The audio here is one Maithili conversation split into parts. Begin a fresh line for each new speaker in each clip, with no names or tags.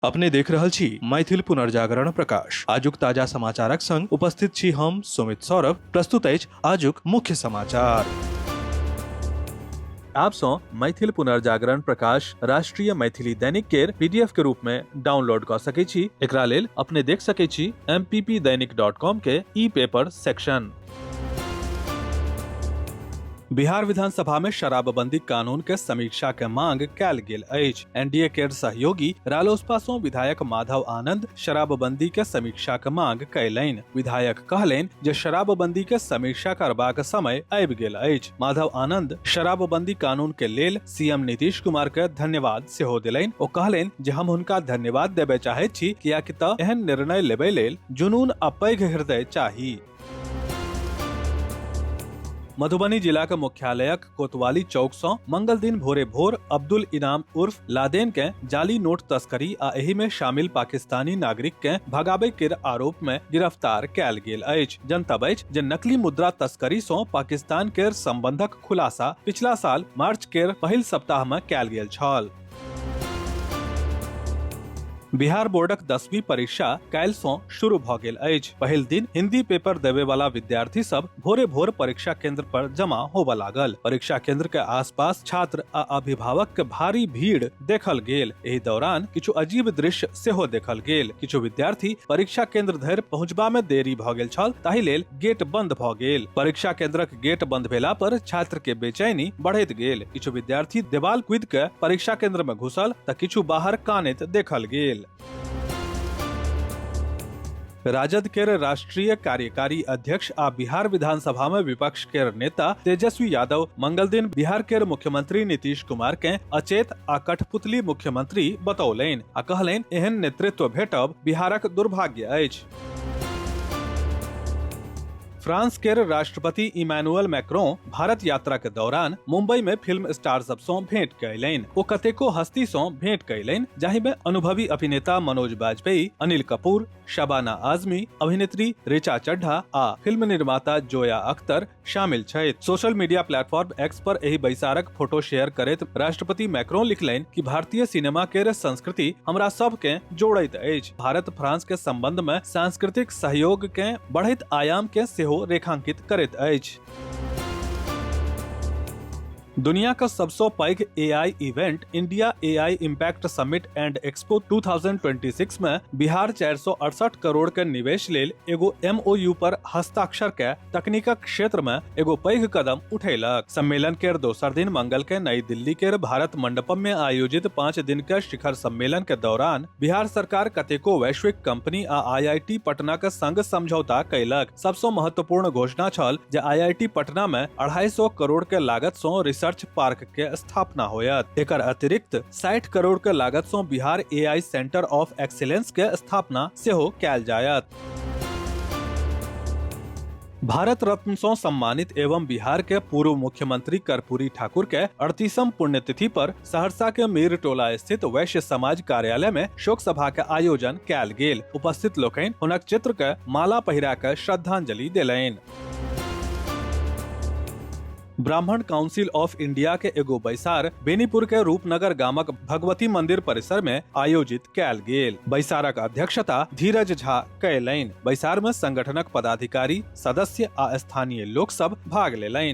अपने देख रहल छी मैथिल पुनर्जागरण प्रकाश आजुक ताजा समाचारक संग उपस्थित छी हम सुमित सौरभ प्रस्तुत अछि आजुक मुख्य समाचार आप सौ मैथिल पुनर्जागरण प्रकाश राष्ट्रीय मैथिली दैनिक केर पीडीएफ के रूप में डाउनलोड क सके छी एकरा लेल अपने देख सके छी mppdainik.com के ई पेपर सेक्शन बिहार विधानसभा में शराबबंदी कानून के समीक्षा के मांग कैल गेल अछि एनडीए केर सहयोगी रालोसपा सं विधायक माधव आनंद शराबबंदी के समीक्षा के मांग कयलनि विधायक कहलनि जे शराबबंदी के समीक्षा करबाक समय आबि गेल अछि माधव आनंद शराबबंदी कानून के लेल सीएम नीतीश कुमार के धन्यवाद सेहो देलनि ओ कहलनि जे हम हुनका धन्यवाद देबय चाहैत छी कियाकि तऽ एहन निर्णय लेबय लेल जुनून आ पैघ हृदय चाही मधुबनी जिलाक मुख्यालयक कोतवाली चौक सँ मंगल दिन भोरे भोर अब्दुल इनाम उर्फ लादेन केँ जाली नोट तस्करी आ एहि मे शामिल पाकिस्तानी नागरिक केँ भगाबै केर आरोप मे गिरफ्तार कयल गेल अछि जनतब अछि जे नकली मुद्रा तस्करी सँ पाकिस्तान केर संबंधक खुलासा पिछला साल मार्च केर पहिल सप्ताह मे कयल गेल छल बिहार बोर्डक दसवीं परीक्षा काल्हि सँ शुरू भऽ गेल अछि पहिल दिन हिंदी पेपर देवे वाला विद्यार्थी सब भोरे भोर परीक्षा केंद्र पर जमा होबऽ लागल परीक्षा केंद्र के आसपास छात्र आ अभिभावक के भारी भीड़ देखल गेल एहि दौरान किछु अजीब दृश्य सेहो देखल गेल किछु विद्यार्थी परीक्षा केंद्र धरि पहुंचबा मे देरी भऽ गेल छल ताहि लेल गेट बंद भ गेल परीक्षा केंद्रक गेट बंद भेला पर छात्र के बेचैनी बढ़ैत गेल किछु विद्यार्थी देवाल कूद के परीक्षा केंद्र में घुसल त किछु बाहर कानैत देखल गेल राजद केर राष्ट्रीय कार्यकारी अध्यक्ष आ बिहार विधानसभा में विपक्ष केर नेता तेजस्वी यादव मंगल दिन बिहार केर मुख्यमंत्री नीतीश कुमार के अचेत आ कठपुतली मुख्यमंत्री बतौलनि आ कहलनि एहन नेतृत्व भेटब बिहारक दुर्भाग्य अछि फ्रांस केर राष्ट्रपति इमानुअल मैक्रों भारत यात्रा के दौरान मुंबई में फिल्म स्टार सब सं भेंट कयलनि ओ कतेको हस्ती सं भेंट कयलनि जाहि में अनुभवी अभिनेता मनोज बाजपेयी अनिल कपूर शबाना आजमी अभिनेत्री ऋचा चड्ढा आ फिल्म निर्माता जोया अख्तर शामिल छथि सोशल मीडिया प्लेटफॉर्म एक्स पर एहि बैसारक फोटो शेयर करैत राष्ट्रपति मैक्रोन लिखलनि कि भारतीय सिनेमा के संस्कृति हमरा सब के जोड़ैत अछि भारत फ्रांस के संबंध में सांस्कृतिक सहयोग के बढ़ैत आयाम के सेहो रेखांकित करैत अछि दुनिया का सबसो पैघ AI event India AI impact summit and expo 2026 में बिहार 468 करोड़ के निवेश लेल एगो एमओयू पर हस्ताक्षर के तकनीकक क्षेत्र में एगो पैघ कदम उठेलक सम्मेलन के दोसर दिन मंगल के नई दिल्ली के भारत मंडपम में आयोजित पाँच दिन के शिखर सम्मेलन के दौरान बिहार सरकार कतेको वैश्विक कंपनी आ आईआईटी पटना के संग समझौता कैलक सबसे महत्वपूर्ण घोषणा छल जे आईआईटी पटना में अढ़ाई सौ करोड़ के लागत सो रिसर्च पार्क के स्थापना होयत एकर अतिरिक्त साठ करोड़ के लागत सो Bihar AI centre of excellence के स्थापना सेहो कैल जायत भारत रत्न सं सम्मानित एवं बिहार के पूर्व मुख्यमंत्री कर्पूरी ठाकुर के अड़तीसम पुण्यतिथि पर सहरसा के मीर टोला स्थित वैश्य समाज कार्यालय में शोक सभा के आयोजन कयल गेल उपस्थित लोकनि हुनक चित्र के माला पहिरा के श्रद्धांजलि देलनि ब्राह्मण काउंसिल ऑफ इंडिया के एगो बैसार बेनीपुर के रूपनगर गामक भगवती मंदिर परिसर में आयोजित कैल गेल बैसारक अध्यक्षता धीरज झा कैलनि बैसार में संगठनक पदाधिकारी सदस्य आ स्थानीय लोक सब भाग लेलनि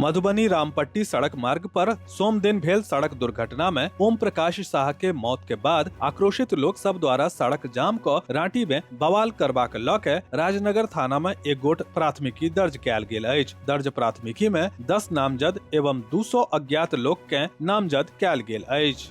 मधुबनी रामपट्टी सड़क मार्ग पर सोम दिन भेल सड़क दुर्घटना में ओम प्रकाश शाह के मौत के बाद आक्रोशित लोग सब द्वारा सड़क जाम को रांटी में बवाल करबाक लऽ के राजनगर थाना में एक गोट प्राथमिकी दर्ज कयल गेल अछि दर्ज प्राथमिकी में दस नामजद एवं दू सौ अज्ञात लोग के नामजद कयल गेल अछि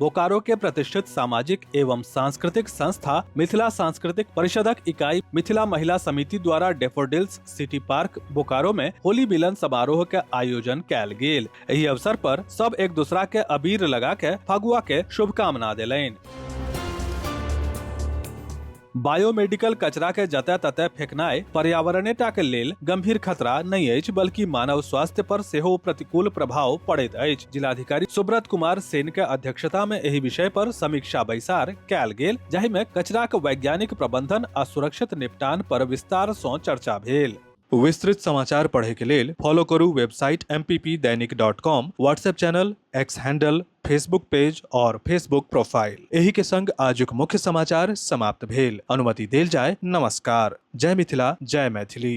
बोकारो के प्रतिष्ठित सामाजिक एवं सांस्कृतिक संस्था मिथिला सांस्कृतिक परिषदक इकाई मिथिला महिला समिति द्वारा डेफोडिल्स सिटी पार्क बोकारो में होली मिलन समारोह के आयोजन कैल गेल एहि अवसर पर सब एक दूसरा के अबीर लगा के फगुआ के शुभकामना दिलैन बायोमेडिकल कचरा के जतय ततय फेकनाय पर्यावरणेटा के लेल गंभीर खतरा नहि अछि बल्कि मानव स्वास्थ्य पर सेहो प्रतिकूल प्रभाव पड़ैत अछि जिलाधिकारी सुब्रत कुमार सेन के अध्यक्षता में एहि विषय पर समीक्षा बैसार कयल गेल जाहि में कचराक वैज्ञानिक प्रबंधन आ सुरक्षित निपटान पर विस्तार सँ चर्चा भेल विस्तृत समाचार पढ़े के लेल फॉलो करू website M P P Dainik dot com WhatsApp channel X handle Facebook page और फेसबुक प्रोफाइल एही के संग आजुक मुख्य समाचार समाप्त भेल अनुमति देल जाय नमस्कार जय मिथिला जय मैथिली